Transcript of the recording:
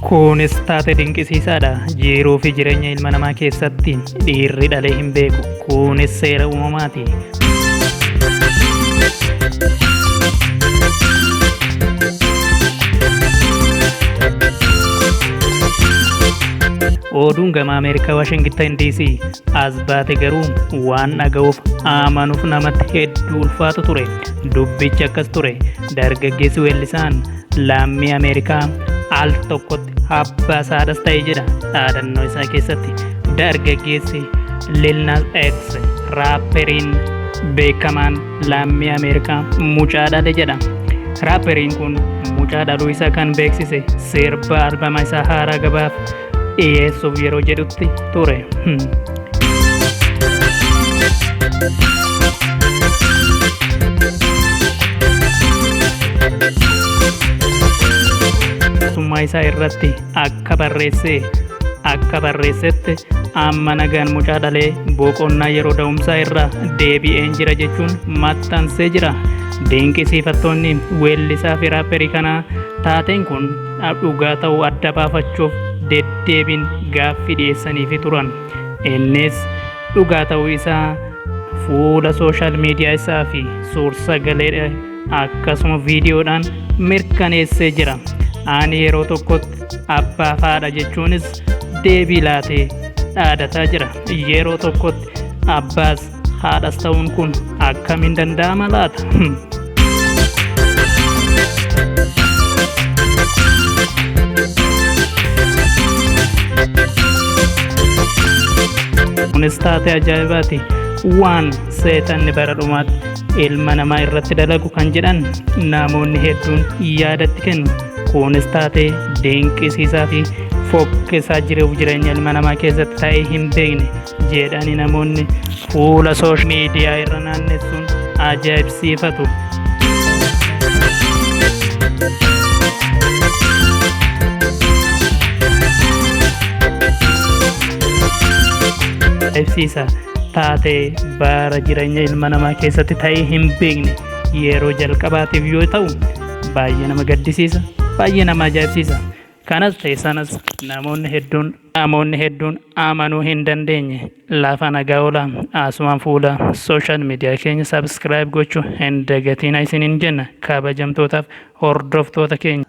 Kunis taate dinqisiisaadha. Jiiruu fi jireenya ilma namaa keessatti dhiirri dhalee hin beeku. Kunis seera uumamaati. Oduun gama Ameerikaa Waashingittan DC as baate garuu waan dhaga'uuf amanuuf namatti hedduu ulfaatu ture. Dubbichi akkas ture. Dargaggeessi weellisaan Laammii Ameerikaa al tokkotti abbaa saadhas ta'e jedha dhaadannoo isaa keessatti dargaggeessi Lil Nas X raapperiin beekamaan laammii Ameerikaa mucaa dhale jedha. Raapperiin kun mucaa dhaluu isaa kan beeksise sirba albama isaa haaraa gabaaf dhiyeessuuf yeroo jedhutti ture. Mootummaa isaa irratti akka barreessee akka barreessetti amma nagaan mucaa dhalee boqonnaa yeroo da'umsaa irraa deebi'een jira jechuun maxxansee jira. Dinqisiifattoonni weellisaa fi raapperii kanaa taateen kun dhugaa ta'uu adda baafachuuf deddeebiin gaaffii dhiyeessaniifi turan. Innis dhugaa ta'uu isaa fuula sooshaal miidiyaa isaa fi suur-sagaleedha akkasuma viidiyoodhaan mirkaneessee jira. Ani yeroo tokkotti abbaa fi haadha jechuunis deebii laatee dhaadataa jira. Yeroo tokkotti abbaas Haadhas ta'uun kun akkamiin danda'ama laata? Kunis taatee ajaa'ibaati. Waan seexanni bara dhumaatti ilma namaa irratti dalagu kan jedhan namoonni hedduun yaadatti kennu. Kunis taatee dinqisiisaa fi fokkisaa jiruuf jireenya ilma namaa keessatti ta'ee hin beekne. jeedhani namoonni fuula soosh miidiyaa irra naannessuun ajaa'ibsiifatu. Ibsiisa taatee bara jireenya ilma namaa keessatti ta'ee hin beekne yeroo jalqabaatiif yoo ta'u baay'ee nama gaddisiisa baay'ee nama ajaa'ibsiisa. Kanas ta'e sanas namoonni hedduun namoonni hedduun amanuu hin dandeenye lafa nagaa ola asumaan fuula social media keenya subscribe gochu hin dagatiina isiniin jenna kabajamtootaaf hordoftoota keenya.